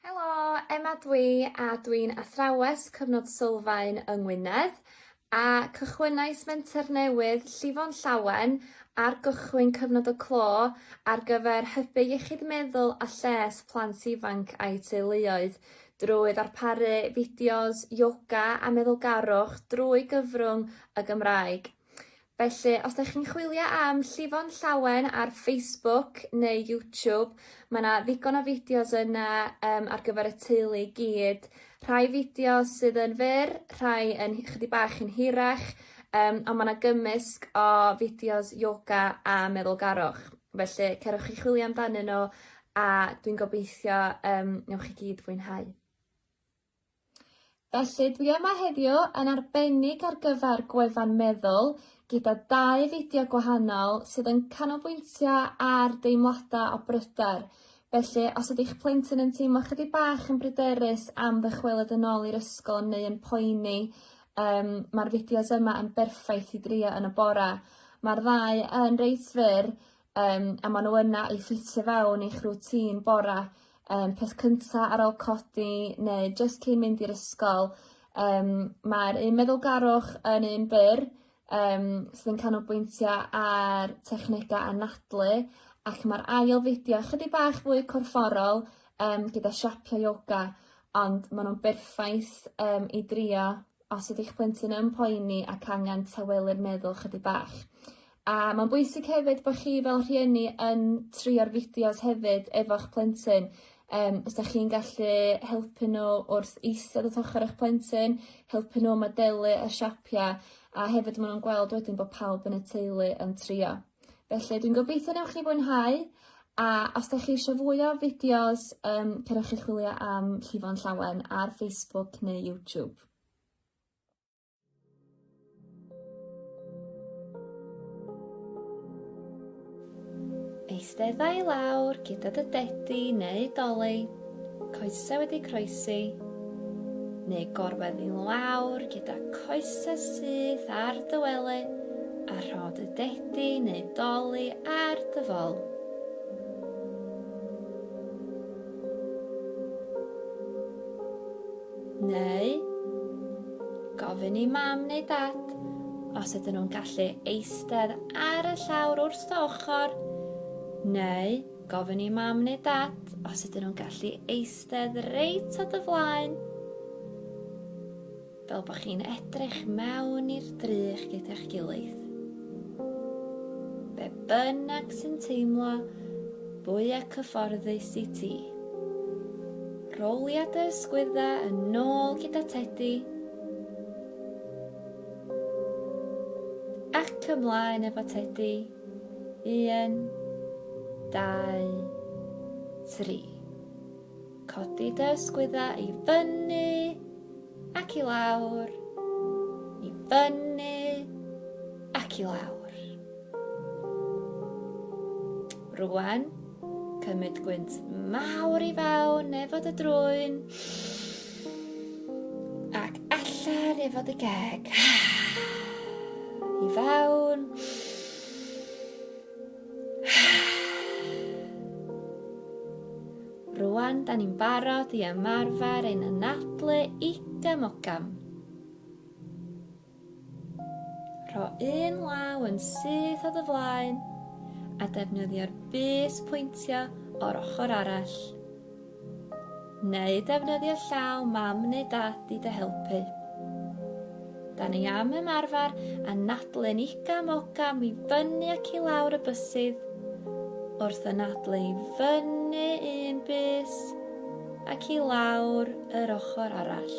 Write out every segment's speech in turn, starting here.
Helo, Emma dwi a dwi'n athrawes cyfnod sylfaen yng Ngwynedd a cychwynnais menter newydd llifo'n llawen ar gychwyn cyfnod y clo ar gyfer hybu iechyd meddwl a lles plant ifanc a'u teuluoedd drwy ddarparu fideos ioga a meddwlgarwch drwy gyfrwng y Gymraeg. Felly, os da chi'n chwilio am llifo'n llawen ar Facebook neu YouTube, mae yna ddigon o fideos yna um, ar gyfer y teulu i gyd. Rhai fideos sydd yn fyr, rhai yn chydig bach yn hirach, um, ond mae yna gymysg o fideos yoga a meddwlgarwch. Felly, cerwch chi chwilio amdanyn nhw a dwi'n gobeithio um, newch chi gyd fwynhau. Felly dwi yma heddiw yn arbennig ar gyfer gwefan Meddwl gyda dau fideo gwahanol sydd yn canolbwyntio ar deimladau o bryder. Felly, os ydy'ch plentyn yn teimlo chydig bach yn bryderus am ddychwelyd yn ôl i'r ysgol neu yn poeni, um, mae'r fideos yma yn berffaith i drio yn y bora. Mae'r ddau yn reit fyr, Yym a ma' n'w yna i ffitio fewn i'ch rwtîn bora' yym peth cynta ar ôl codi neu jyst cyn mynd i'r ysgol yym ma'r un meddwlgarwch yn un byr yym sydd yn canolbwyntio ar technege anadlu ac ma'r ail fideo chydig bach fwy corfforol yym gyda siapio ioga ond ma' nw'n berffaith yym i drio os ydy eich plentyn yn poeni ac angen tawelu'r meddwl chydig bach. A mae'n bwysig hefyd bod chi fel rhieni yn trio'r fideos hefyd efo'ch plentyn. Um, os da chi'n gallu helpu nhw wrth eistedd at ochr eich plentyn, helpu nhw modelu y siapiau, a hefyd maen nhw'n gweld wedyn bod pawb yn y teulu yn trio. Felly dwi'n gobeithio newch chi fwynhau a os da chi eisiau fwy o fideos um, cerwch chi chwilio am Llifo'n Llawen ar Facebook neu YouTube. Eisteddau lawr gyda dy dedi neu doleg Coese wedi croesi, neu gorwedd i lawr gyda coesau syth ar dy wely a rhod y dedi neu doli ar dy fol. Neu gofyn i mam neu dad os ydyn nhw'n gallu eistedd ar y llawr wrth dy ochr neu Gofyn i mam neu dad os ydyn nhw'n gallu eistedd reit o dy flaen. Fel bod chi'n edrych mewn i'r drych gyda'ch gilydd. Be bynnag sy'n teimlo fwyaf cyfforddus i ti. Rowlia dy ysgwydda yn nôl gyda tedi. Ac ymlaen efo tedi. 1, 2, 3. Codi dy ysgwyddau i fyny ac i lawr, i fyny ac i lawr. Rwan, cymryd gwynt mawr i fawn neu fod y drwyn. Ac allan efo dy geg. I fewn. Rwan, da ni'n barod i ymarfer ein anadlu igam ogam. Rho un law yn syth o dy flaen a defnyddio'r bys pwyntio o'r ochr arall. Neu defnyddio llaw mam neu dad i dy helpu. Da ni am ymarfer anadlu'n igam ogam i fyny ac i lawr y bysydd wrth anadlu i fyny un bys ac i lawr yr ochr arall.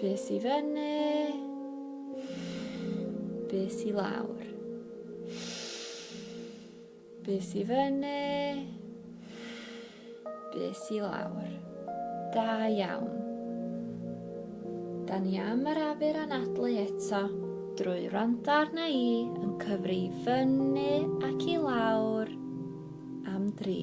Bys i fyny. Bys i lawr. Bys i fyny. Bys i lawr. Da iawn. Da ni am yr afur anadlu eto drwy rando arna i yn cyfri i fyny ac i lawr am dri.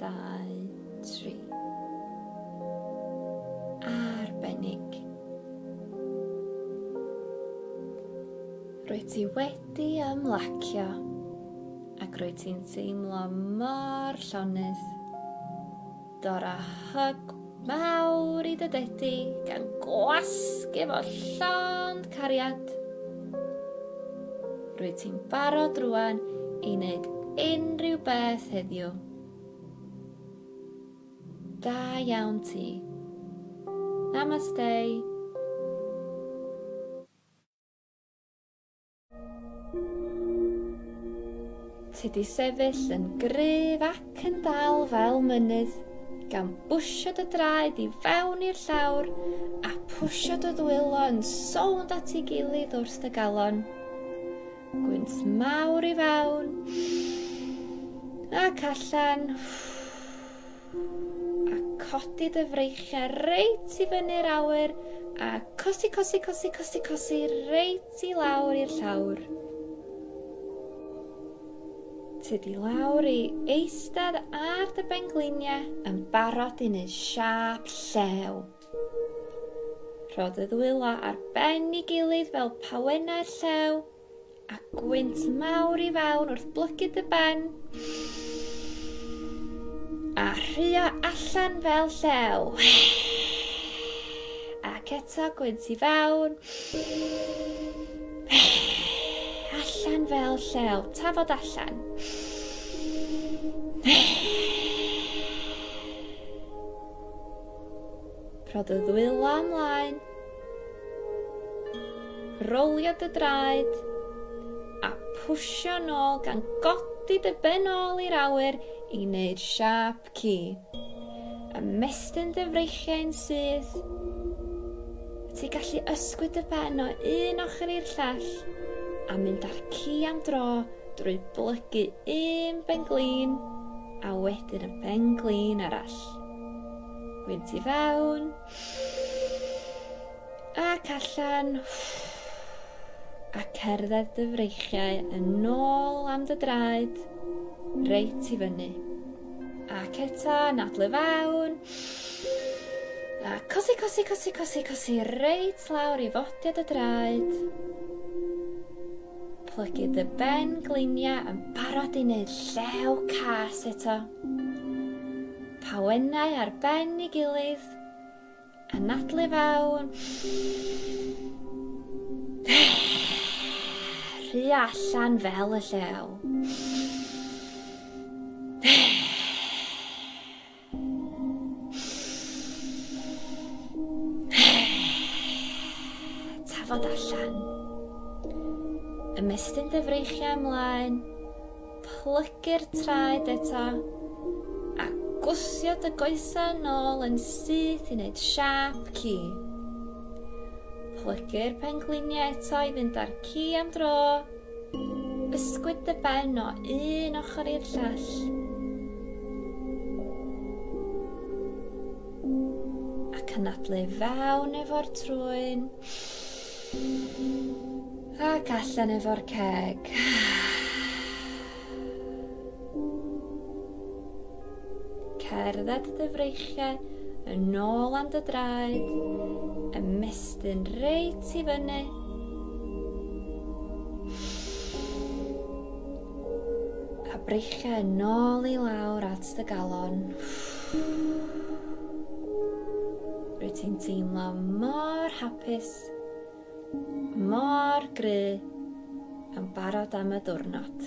dau, tri. Arbennig. Rwy ti wedi ymlacio ac rwy ti'n teimlo mor llonydd. Dora hug Mawr i dy dedi gan gwasg efo llond cariad. Rwyt ti'n barod rwan i wneud unrhyw beth heddiw. Da iawn ti. Namaste. Ti di sefyll yn gryf ac yn dal fel mynydd, gan bwsio dy draed i fewn i'r llawr a pwsio dy ddwylo yn sownd at ei gilydd wrth dy galon. Gwynt mawr i fewn ac allan. A codi dy freichiau reit i fyny'r awyr a cosi, cosi, cosi, cosi, cosi reit i lawr i'r llawr. Tydi lawr i eistedd ar dy bengliniau yn barod i wneud siap llew. Rho dy ddwylo ar ben i gilydd fel pawennau'r llew A gwynt mawr i fewn wrth blygu dy ben. A rhywio allan fel llew. Ac eto gwynt i fewn. Allan fel llew. Tafod allan. Rho dy ddwylo ymlaen. Rolio dy draed a pwsio nôl gan godi dy ben ôl i'r awyr i wneud siâp ci. Ymestyn dy freichiau yn syth. Wyt ti gallu ysgwyd dy ben o un ochr i'r llall a mynd â'r ci am dro drwy blygu un ben glin a wedyn y ben glin arall. Wynt i fewn, Ac allan. A cerdded dy freichiau yn ôl am dy draed. Reit i fyny. Ac eto, nadlu fawn. A cosi, cosi, cosi, cosi, cosi, reit lawr i fodiad y draed. Plygu dy ben gliniau yn barod i wneud llew cas eto. Pa wennau ar ben ei gilydd. Anadlu fewn. Rhy allan fel y llew. Tafod allan. Ymestyn dy freichiau ymlaen. Plygu'r traed eto, a gwthio dy goesau yn ôl yn syth i wneud siâp ci. Plygu'r pengliniau eto i fynd â'r ci am dro. Ysgwyd dy ben o un ochr i'r llall. Ac anadlu fewn efo'r trwyn. Ac allan efo'r ceg. Cerdded dy freichiau yn ôl am dy draed, ymestyn reit i fyny. A breichiau yn ôl i lawr at dy galon. Uff. Rwyt ti'n teimlo mor hapus, mor gry, yn barod am y diwrnod.